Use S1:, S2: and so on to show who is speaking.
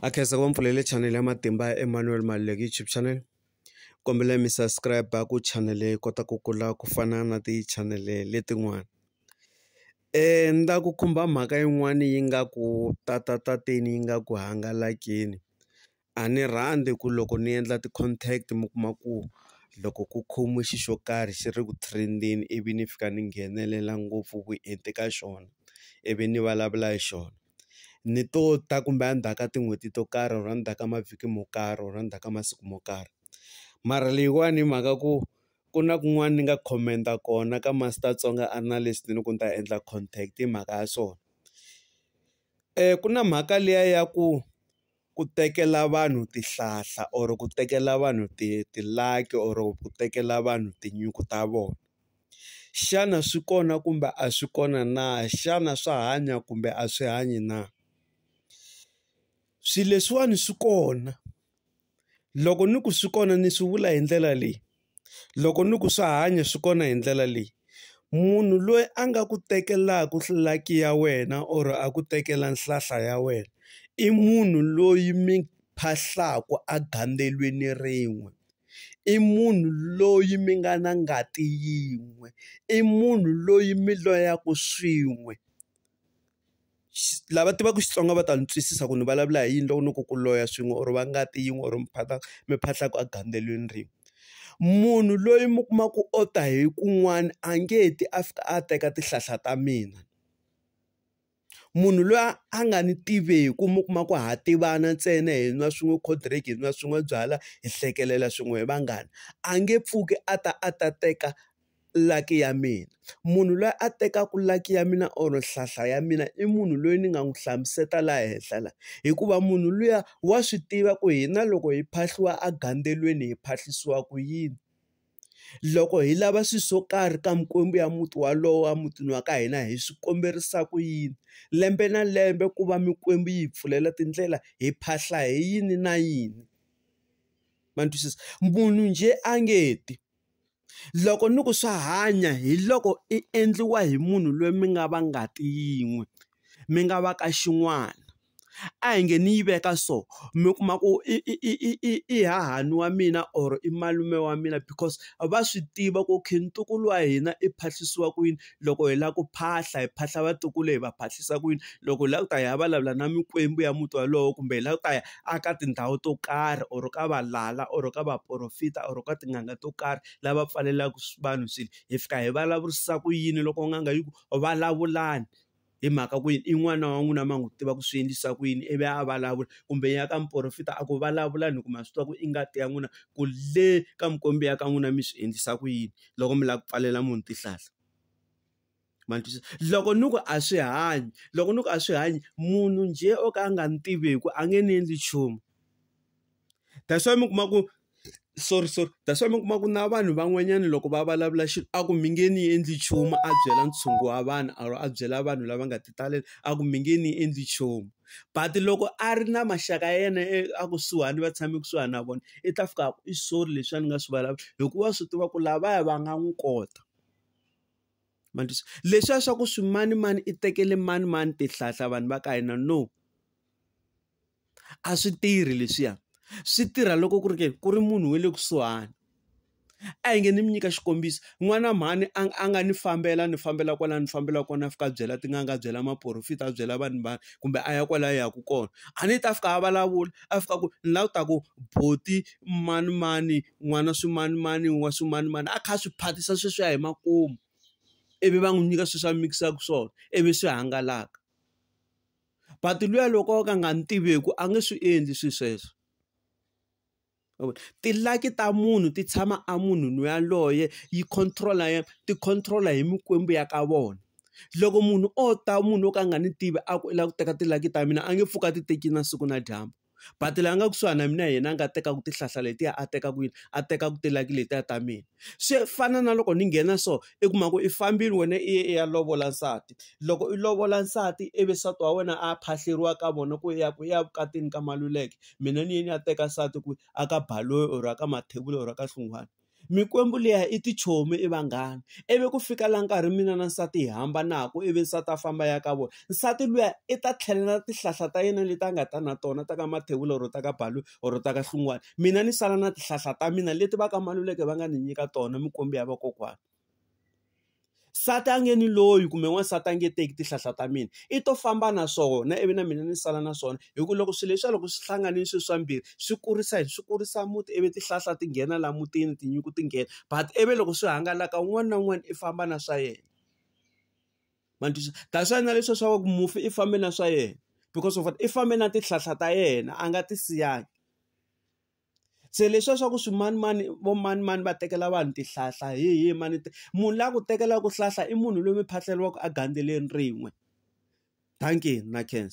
S1: a khensa ku va mpfulele channel ya matimba ya Emmanuel Maluleke YouTube channel kombela mi subscribe ku channel yi kota ku kula ku fana na ti-channel letin'wana ni la ku khumba mhaka yin'wani yi nga ku tatatateni yi nga ku hangalakini a ni rhandzi ku loko ni endla ti-contact mi kuma ku loko ku khomiwe xi xo karhi xi ri ku trend-eni ivi ni fika ni nghenelela ngopfu vuenti ka xona ivi ni vulavula hi xona. ni to ta kumbe a ndzhaku ka tin'hweti to karhi or a ndzhaku ka mavhiki mo karhi or a ndzhaku ka masiku mo karhi mara leyiwani hi mhaka ku ku na kun'wani ni nga comment-a kona ka Master Tsonga a ri na leswi ni loko ni ta endla contact hi mhaka ya swona ku na mhaka liya ya ku. ku tekela vanhu tihlahla or ku tekela vanhu ti ti-lucky or ku tekela vanhu tinyungu ta vona xana swi kona kumbe a swi kona na xana swa hanya kumbe a swi hanyi na swilo leswiwani swi kona loko ni ku swi kona ni swi vula hi ndlela leyi. Loko ni ku swa hanya swi kona hi ndlela leyi, munhu loyi a nga ku tekelaka lucky ya wena or a ku tekela nhlahla ya wena, i munhu loyi mi phahlaka egandzweleni rin'we. I munhu loyi mi nga na ngati yin'we. I munhu loyi mi loyaka swin'we. lava tivaka Xitsonga va ta ni twisisa ku ni vulavula hi yini loko ni ku ku loya swin'we or va ngati yin'we or miphata miphahla ku a gandzeliweni rin'we. Munhu loyi mi kuma ku u ta hi kun'wana a nge ti a fika a teka tihlahla ta mina. Munhu loyi a nga ni tiveki mi kuma ku ha tivana ntsena hi nwa swin'we cold drink, hi nwa swin'we byalwa, hi hlekelela swin'we hi vanghana, a nge pfuki a ta a ta teka. lucky ya mina. Munhu loyi a tekaka lucky ya mina or nhlahla ya mina i munhu loyi ni nga n'wi hlamusela laha henhla laha. Hikuva munhu luya wa swi tiva ku hina loko hi phahliwa egandzweleni hi phahlisiwa ku yini. Loko hi lava swilo swo karhi ka mikwembu ya muti wolowo emutini wa ka hina hi swi kombisa ku yini. Lembe na lembe ku va mikwembu yi hi pfulela tindlela, hi phahla hi yini na yini. Ma ni twisisa? Munhu njhe a nge ti. Loko ni ku swa hanya hi loko i endliwa hi munhu loyi mi nga va ngati yin'we, mi nga va ka xin'wana. A hi nge ni yi veka so, mi kuma ku i i i i i i hahani wa mina or i malume wa mina because va swi tiva ku okay ntukulu wa hina i phahlisiwa ku yini. loko hi lava ku phahla hi phahla vatukulu hi va phahlisa ku yini loko hi lava ku ta hi ya vulavula na mikwembu ya muti wolowo kumbe hi lava ku ta ya a ka tindhawu to karhi or ka valala or ka vaporofeta or ka tin'anga to karhi lava pfalelaka vanhu swilo hi fika hi vulavurisisa ku yini loko n'anga yi ku vulavulani. hi mhaka ku yini i n'wana wa n'wina ma n'wi tiva ku swi endlisa ku yini ivi a vulavula kumbe ya ka muporofeta a ku vulavula ni ku ma swi tiva ku i ngati ya n'wina ku le ka mukombi ya ka n'wina mi swi endlisa ku yini loko mi lava ku pfalela munhu tihlahla ma twisisa loko ni ku a swi hanyi loko ni ku a swi hanyi munhu njhe o ka a nga ni tiveku a nge ni endli nchumu. that's why mi kuma ku sorry sorry that's why mi kuma ku na vanhu van'wanyana loko va vulavula xilo a ku mi nge ni endli nchumu a byela ntshungu wa vanhu or a byela vanhu lava nga ti talela a ku mi nge ni endli nchumu but loko a ri na maxaka ya yena e, a kusuhani va tshame kusuhani na vona i ta fika i sorry leswi a ni nga swi vulavula hikuva swi tiva ku lavaya va nga n'wi kota mandisa leswiya swa ku swimanimani i tekele manimani tihlahla vanhu va ka hina no a swi tirhi leswiya swi tirha loko ku ri ke ku ri munhu wa le kusuhani a hi nge ni mi nyika xikombiso n'wana mhani a a nga ni fambela ni fambela kwala ni fambela kona a fika a byela tin'anga a byela maporofita a byela vanhu vanhu kumbe a ya kwala ya ku kona a ni ta fika a vulavula a fika ku ni la ku ta ku boti mani mani n'wana swi mani mani wa swi mani mani a kha a swi phatisa sweswiya hi makumu ivi va n'wi nyika sweswi a mikisaka swona ivi swi hangalaka. but luya loko o ka a nga ni tiveki a nge swi endli swilo sweswo tilaki ta munhu ti tshama a munhu loyi yaloye yi control-a ya ti control-a hi mikwembu ya ka vona loko munhu o ta munhu wo ka a nga ni tivi a ku i lava ku teka tilaki ta mina a nge pfuki a ti teki na siku na dyambu. but la nga kusuhani na mina hi yena a nga tekaka tihlahla letiya a teka kwini a teka ku tilaki letiya ta mina swi fana na loko ni nghena so i kuma ku i fambile wena i ye i ya lovola nsati loko i lovola nsati ivi nsati wa wena a phahleriwa ka vona ku ya ku ya vukatini ka maluleke mina ni ye ni ya teka nsati kwihi a ka baloyi or a ka mathebula or a ka hlungwana. Mikwembu liya i tichomi i vanghana. Ivi ku fika laha nkarhi mina na nsati hi hambanaka ivi nsati a famba a ya ka vona. Nsati luya i ta tlhelela tihlahla ta yena leti a nga ta na tona ta ka Mathebula or ta ka Balu or ta ka Hlungwane. Mina ni sala na tihlahla ta mina leti va ka Maluleke va nga ni nyika tona, mikwembu ya vakokwana. Nsati a nge ni loyi kumbe n'wansati a nge teki tihlahla ta mina, i to famba na swona ivi na mina ni sala na swona. Hi ku loko swilo leswiya loko swi hlanganile swilo swa mbirhi, swi kurisa yini? Swi kurisa muti ivi tihlahla ti nghena laha mutini, tinyungu ti nghena. But ivi loko swi hangalaka un'wana na un'wana i famba na swa yena. Ma ni twisisa? That's why na leswiya swa ku mufi i fambe na swa yena, because of what? I fambe na tihlahla ta yena a nga ti siyangi. Se leswiya swa ku swimanimani vo manimani va tekela vanhu tihlahla hi hi mani munhu la ku tekelaka hlahla i munhu loyi mi phahleriwaka a gandzeleni rin'we dankie na khensa.